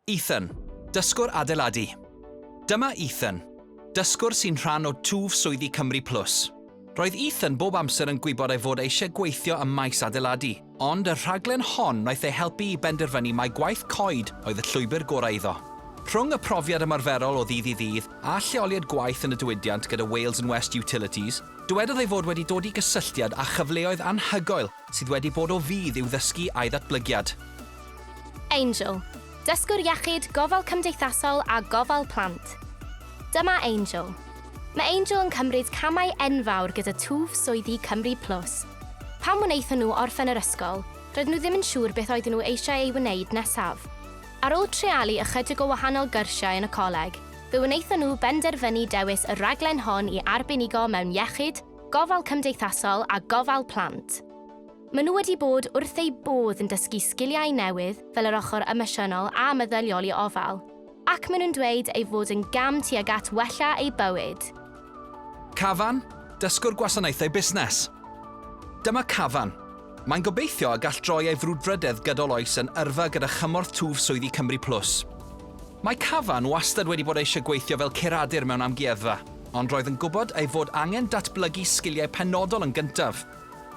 Ethan, dysgwr adeiladu. Dyma Ethan, dysgwr sy'n rhan o twf swyddi Cymru Plus. Roedd Ethan bob amser yn gwybod ei fod e eisiau gweithio ym maes adeiladu, ond y rhaglen hon wnaeth ei helpu i benderfynu mai gwaith coed oedd y llwybr gorau iddo. Rhwng y profiad ymarferol o ddydd i ddydd a lleoliad gwaith yn y diwydiant gyda Wales and West Utilities, dywedodd ei fod wedi dod i gysylltiad â chyfleoedd anhygoel Sydd wedi bod o fudd i'w ddysgu a'i ddatblygiad. Angel, Dysgwr Iechyd, Gofal Cymdeithasol a Gofal Plant. Dyma Angel. Mae Angel yn cymryd camau enfawr gyda twf swyddi Cymru Plus. Pan wnaethon nhw orffen yr ysgol, roedden nhw ddim yn siŵr beth oedden nhw eisiau ei wneud nesaf. Ar ôl treialu ychydig o wahanol gyrsiau yn y coleg, fe wnaethon nhw benderfynu dewis y rhaglen hon i arbenigo mewn iechyd, Gofal Cymdeithasol a Gofal Plant. Maen nhw wedi bod wrth eu bodd yn dysgu sgiliau newydd fel yr ochr emosiynol a meddyliol i ofal, ac maen nhw'n dweud ei fod yn gam tuag at wella eu bywyd. Cafan, Dysgwr Gwasanaethau Busnes. Dyma Cafan. Mae'n gobeithio y gall droi ei frwdfrydedd gydol oes yn yrfa gyda chymorth twf swyddi Cymru Plus. Mae Cavan wastad wedi bod eisiau gweithio fel curadur mewn amgueddfa, ond roedd yn gwybod ei fod angen datblygu sgiliau penodol yn gyntaf.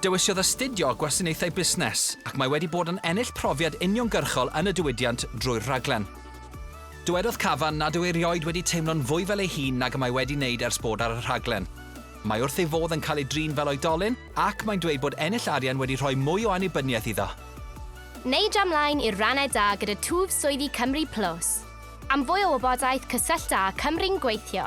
Dewisiodd astudio Gwasanaethau Busnes, ac mae wedi bod yn ennill profiad uniongyrchol yn y diwydiant drwy'r rhaglen. Dywedodd Cavan nad yw erioed wedi teimlo'n fwy fel ei hun nag y mae wedi wneud ers bod ar y rhaglen. Mae wrth ei fodd yn cael ei drin fel oedolyn, ac mae'n dweud bod ennill arian wedi rhoi mwy o annibyniaeth iddo. Neu dra mlaen i'r rannau da gyda twf swyddi Cymru Plus. Am fwy o wybodaeth cysyllta â Cymru'n Gweithio.